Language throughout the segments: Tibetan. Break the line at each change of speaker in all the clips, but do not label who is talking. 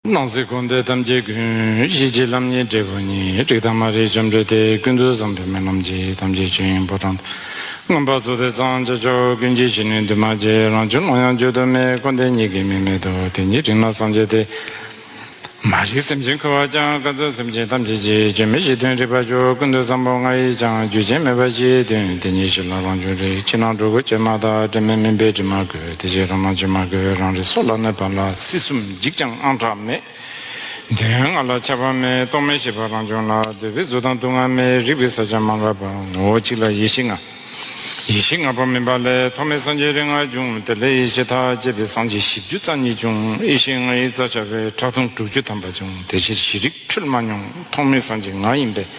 སྣང་སྲིད་འཁོར་འདས་ཐམས་ཅད་ཀུན། གཞི་གཅིག་ལམ་གཉིས་འབྲས་བུ་གཉིས། རིག་དང་མ་རིག་བཅོམ་འགྲོལ་ཏེ། ཀུན་ཏུ་བཟང་པོའི་སྨོན་ལམ་གྱིས། ཐམས་ཅད་ཆོས་དབྱིངས་ཕོ་བྲང་དུ། མངོན་པར་རྫོགས་ཏེ་གཙང་བྱ་ཕྱོགས། ཀུན་གྱི་ཕྱི་ནུས་འདུས་མ་བྱས། རང་བྱུང་ཀློང་ཡངས་བརྗོད་དུ་མེད། འཁོར་འདས་གཉིས་ཀའི་མིང་མེད་དོ། དེ་ཉིད་རིག་སྣང་སངས་རྒྱས་ཏེ། མ་རིག་སེམས་ཅན་འཁོར་བར་བཅངས། བཀའ་སྩོལ་སེམས་ཅན་ཐམས་ཅད་ཀྱི། སྐྱོན་མེད་གཞི་མཐུན་རིག་པར་ཤོག། ཀུན་ཏུ་བཟང་པོ་ལྔ་ཡིས་ཀྱང། རྒྱུ་རྐྱེན་མེད་པར་གཞིའི་དོན། དེ་ཉིད་གཞི་ལ་རང་བྱུང་རིག། ཕྱི་ནང་འགྲོ་ཀུན་བཅོས་མ་དག། དྲི་མེད་མིན་པས་དྲི་མ་གོས། དེ་བཞིན་རང་སྣང་བཅོས་མ་གོས། རང་རིག་སྲོག་ལ་གནས་པ་ལ། སྲིད་གསུམ། འཇིགས་ཀྱང་དངངས་སྐྲག་མེད། དོན་ལྔ་ལ་ཁྱབ་པ་མེད་རྟོག་མེད་ཤེས་པ་རང་བྱུང་ལ་འདོད་པའི་གཟུགས་དང་སྡུག་བསྔལ་མེད་རིག་པའི་ས་ཆ་མ་འགགས་པ་ངོ་བོ་གཅིག་ལ་ཡེ་ཤེས་ལྔ། ཡེ་ཤེས་ལྔ་པོ་སྨིན་པ་ལས་ཐོག་མའི་སངས་རྒྱས་རིགས་ལྔ་བྱུང་དེ་ལས་ཡེ་ཤེས་ཐག་བཅད་པའི་སངས་རྒྱས་བཞི་བཅུ་རྩ་གཉིས་བྱུང་ཡེ་ཤེས་ལྔ་ཡི་རྩ་ཆགས་པས་ཁྲག་འཐུང་དྲུག་ཅུ་ཐམ་པ་བྱུང་དེ་ཕྱིར་བཞི་རིགས་འཁྲུལ་མ་མྱོང་ཐོག་མའི་སངས་རྒྱས་ང་ཡིན་པས་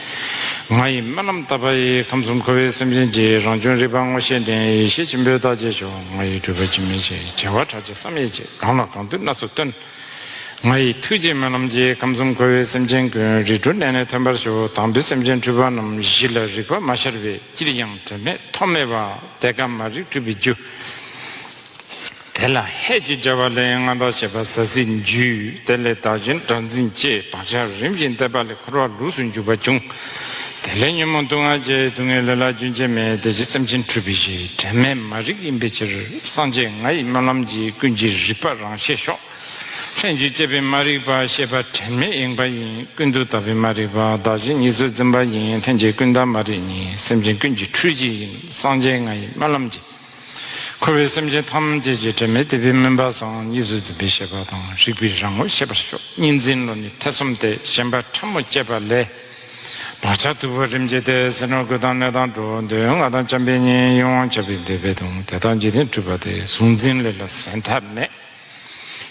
ང་ཡི་རྨི་ལམ་ལྟ་བ་ཡི་ཁམས་གསུམ་འཁོར་བའི་སེམས་ཅན་གྱི་རང་བྱུང་རིག་པ་ངོ་ཤེས་ལྡན་ཡེ་ཤེས་ཆེན་པོའི་རྟགས་བརྒྱད་ཆོག་ང་ཡི་སྤྲུལ་པ་འཇིགས་མེད་ཅེས་བྱ་བ་ཕྲག་བཅས་བསམ་ཡས་བཅས། གང་ལ་གང་འདུལ་སྣ་ཚོགས་སྟོན། ང་ཡི་ཐུགས་རྗེས་སྨོན་ལམ་རྗེས་ཁམས་གསུམ་འཁོར་བའི་སེམས་ཅན་ཀུན་རིག་དྲུག་གནས་ནས་ཐོན་པར་ཤོག་དང་པོའི་སེམས་ཅན་འཁྲུལ་པ་རྣམས་གཞི་ལ་རིག་པ་མ་ཤར་བས་ཅིར་ཡང་དོན་མེད་ཐོགས་མེད་པ་དེ་ཀ་མ་རིག་འཁྲུལ་པའི་རྒྱུ། དེ་ལ་ཧད་ཅེས་བྱ་བ་ལས་མངའ་བདག་བྱེད་པ་ཟ་ཟིའི་རྒྱུ། དེ་ལས་བདག་བྱིན་སྒྲ་འཛིན་ཅེས་བག་ཆགས་རིམ་བཞིན་བརྟས་པ་ལས་འཁོར་བ་ལུགས་སུ་འཇུག་པ་འབྱུང། དེ་ལས་ཉོན་མོངས་སྡུག་བསྔལ་བཅས་སྡུག་བསྔལ་ལས་ལྷ་རྒྱུན་ཆད་མེད་དེ་ཇི་ཙམ་ཅི་འཁྲུལ་པའི་གཞི་དྲན་མེད་མ་རིག་ཡིན་པའི་ཕྱིར་སངས་རྒྱས་ང་ཡི་སྨོན་ལམ་གྱིས་ཀུན་གྱི་རིག་པ་རང་ཤེས་ཤོག། ལྷན་ཅིག་སྐྱེས་པའི་མ་རིག་པ་ཤེས་པ་དྲན་མེད་ཡེངས་པ་ཡིན་ཀུན་ཏུ་དག་པའི་མ་རིག་པ་བདག་གཞན་གཉིས་སུ་འཛིན་པ་ཡིན་ལྷན་སྐྱེས་ཀུན་བདག་མ་རིག་གཉིས་སེམས་ཅན་ཀུན་གྱི་འཁྲུལ་གཞི་ཡིན་སངས་རྒྱས་ང་ཡི་སྨོན་ལམ་གྱིས། འཁོར་བའི་སེམས་ཅན་ཐམས་ཅད་ཀྱི་དྲི་མེད་དེ་བས་སྨིན་པ་སངས་གཉིས་སུ་འཛིན་པའི་ཤེས་པ་དང་རིག་པའི་རང་ངོ་ཤེས་པར་ཤོག་གཉིས་འཛིན་བློ་ནི་ཐེ་ཚོམ་སྟེ་ཞེན་པ་ཕྲ་མོ་བསྐྱེད་པ་ལས། བག་ཆགས་དུལ་བ་རིམ་བསྐྱེད་དེ་ཟིན་ནོ་ཀུན་དང་གནས་དང་འགྲོ་འདོད་ལྔ་དང་བྱམས་པའི་གཉེན་ཡོངས་ཆད་པའི་འདོད་པས་དང་དེ་དག་འཇིག་རྟེན་འཁྲུལ་པ་སྟེ་གཟུང་འཛིན་ལས་ལ་ཟད་མཐའ་མེད།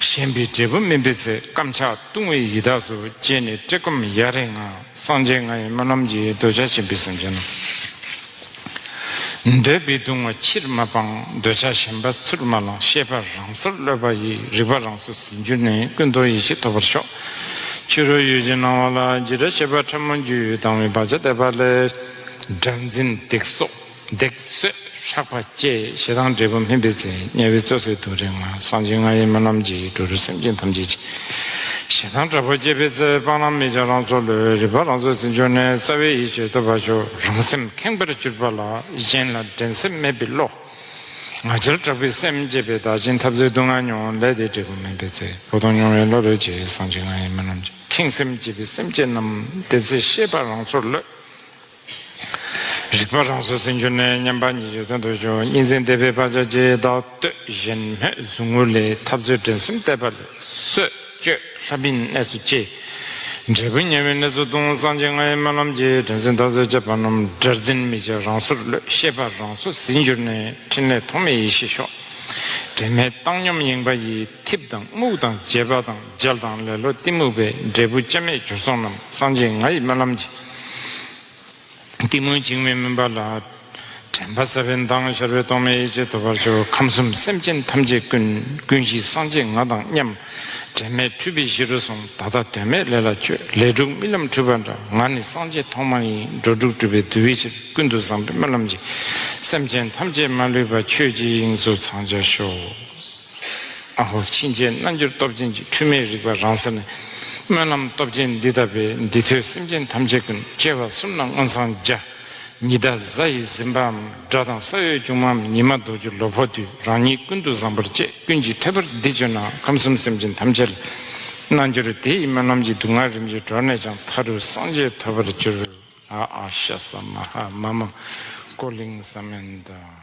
ཞེན་པའི་འབྲས་བུ་སྨིན་པའི་ཚེ་བརྐམ་ཆགས་ལྟུང་བའི་ཡི་དྭགས་སུ་སྐྱེས་ནས་བཀྲེས་སྐོམ་ཡ་རེ་ངང་སངས་རྒྱས་ང་ཡི་སྨོན་ལམ་གྱིས་གདུལ་བྱ་ཆེན་པོའི་སེམས་ཅན་རྣམས། འདོད་པའི་གདུང་བ་ཕྱིར་མ་སྤང་འདོད་ཆགས་ཞེན་པ་ཚུར་མ་བླང་ཤེས་པ་རང་སོར་གློད་པ་ཡིས་རིག་པ་རང་སོར་ཟིན་གྱུར་ནས་ཀུན་རྟོག་ཡེ་ཤེས་ཐོབ་པར་ཤོག། ཕྱི་རོལ་ཡུལ་གྱི་སྣང་བ་ལ་རྒྱུ་འབྲས་བྱེད་པ་ཕྲ་མོ་རྒྱུ་ཡི་དྭངས་བའི་བག་ཆགས་དད་པ་ལས་སྒྲ་འཛིན་སྡིག་གསོག། འདེགས་གསོད་ཧྲག་པ་བཅས་ཞེ་སྡང་འབྲས་བུ་སྨིན་པའི་མཚན་དམྱལ་བའི་གཙོ་སྲས་དུག་རེག་ངང་གསང་ཆེན་ལྔ་ཡི་མི་རྣམས་ཀྱི་འགྲོ་དྲུག་སེམས་ཅན་ཐམས་ཅད་ཀྱི་ཞེ་སྡང་དྲག་པོ་བསྐྱེད་པའི་རྩ་བའི་སྤང་བླང་མི་བྱ་རང་ཚོ་ལུས་རིག་པ་རང་ཚོ་ཟིན་ཆོག་ནས་རྩ་བའི་ཡིད་དཔྱོད་ཐོབ་པ་ཆོག་རང་སེམས་ཁེངས་པར་གྱུར་པ་ལ་གཞན་ལ་འགྲན་སེམས་མེད་པའི་བློ་ང་རྒྱལ་དྲག་པོའི་སེམས་བསྐྱེད་པའི་བདག་གཞན་འཐབ་རྩོད་སྡུག་བསྔལ་མྱོང་ལས་དེའི་འབྲས་བུ་སྨིན་པའི་ཚེ་བོ་དོང་མྱོང་བའི་བློ་རོལ་བཅས་གསང་ཆེན་ལྔ་ཡི་མི་རྣམས་ཀྱི་ཁེངས་སེམས་བསྐྱེད་པའི་སེམས་བསྐྱེད་རྣམས་དེ་ཚེ་ཤེས་པ་རང་ཚོར་ལོས། རིག་པ་རང་སོ་སེམས་གྱུར་ནས་མཉམ་པ་ཉིད་ཀྱི་དོན་དུ་བྱུང་གཉིས་འཛིན་བདེ་བས་བག་ཆགས་ཀྱི་བདག་བསྟོད་བཞིན་སྨོན་ཟུང་ངུ་ལས་ཐབས་ཚུལ་འགྲན་སེམས་བརྟས་པ་ལས་གསོད་གཅོད་ལྷ་མིན་གནས་སུ་སྐྱེ། འབྲས་བུ་ཉེ་བའི་གནས་ཚུལ་སྟོང་སངས་རྒྱས་ལྔའི་སྨོན་ལམ་གྱིས་དྲན་སེམས་ཐག་ཚོད་ཅེས་པ་རྣམས་སྒྲར་འཛིན་མི་བྱེད་རང་སོར་ཀློད་ཤེས་པ་རང་སོ་ཟིན་གྱུར་ནས་ཕྲིན་ལས་ཐོགས་མེད་ཡེ་ཤེས་ཤོག། དྲན་མེད་བཏང་སྙོམས་གཡེང་བ་ཡི་འཐིབས་དང་རྨུགས་དང་བརྗེད་པ་དང་འཇལ་དང་ལེ་ལོ་གཏི་མུག་པའི་འབྲས་བུ་སྐྱབས་མེད་གྱུར་སོང་རྣམས་སངས་རྒྱས་ང་ཡི་སྨོན་ལམ་གྱིས། གཏི་མུག་འཇིགས་མེད་སྨིན་པ་ལ། དྲན་པ་ཟབ་པའི་མདངས་ཤར་བས་རྟོག་མེད་ཡེ་ཤེས་ཐོབ་པར་ཤོག་ཁམས་གསུམ་སེམས་ཅན་ཐམས་ཅད་ཀུན། ཀུན་གཞི་སངས་རྒྱས་ང་དང་མཉམ། དྲན་མེད་འཁྲུལ་པའི་གཞི་རུ་སོང་ད་ལྟ་དོན་མེད་ལས་ལ་སྤྱོད་ལས་དྲུག་རྨི་ལམ་འཁྲུལ་པ་འདྲ་ང་ནི་སངས་རྒྱས་ཐོག་མ་ཡིན་འགྲོ་དྲུག་སྤྲུལ་པའི་བདུད་བའི་ཕྱིར་ཀུན་ཏུ་བཟང་པོའི་སྨོན་ལམ་གྱིས། སེམས་ཅན་ཐམས་ཅད་མ་ལུས་པ་ཆོས་ཀྱི་དབྱིངས་སུ་ཚང་བྱ་ཤོག། ཨ་ཧོ་ཕྱིན་ཆད་རྣལ་འབྱོར་སྟོབས་ཆེན་གྱི་འཁྲུལ་མེད་རིག་པ་རང་ས་ནས། སྨོན་ལམ་སྟོབས་ཆེན་འདི་དག་པས་འདི་ཐོས་སེམས་ཅན་ཐམས་ཅད་ཀུན་སྐྱེ་བ་གསུམ་ན་མངོན་སངས་རྒྱ། ཉི་ཟླ་གཟའ་ཡི་གཟིམ་པའམ་སྒྲ་དང་ས་གཡོས་ཆུང་མའམ་ཉི་མ་རྡོ་རྗེ་ལོ་ཕོ་དུས་རང་ཉིད་ཀུན་ཏུ་བཟང་པར་བཅས་ཀུན་གྱིས་ཐོས་པར་འདི་བརྗོད་ན་ཁམས་གསུམ་སེམས་ཅན་ཐམས་ཅད་ལ། རྣལ་འབྱོར་དེ་ཡི་སྨོན་ལམ་གྱིས་སྡུག་བསྔལ་རིམ་གྱིས་གྲོལ་ནས་ཀྱང་མཐའ་རུ་སངས་རྒྱས་ཐོབ་པར་འགྱུར། ཨ་ཨ་ཤ་ཟ་མ་ཧཱ་མ་མ་ཀོ་ལིང་ས་མན་ད།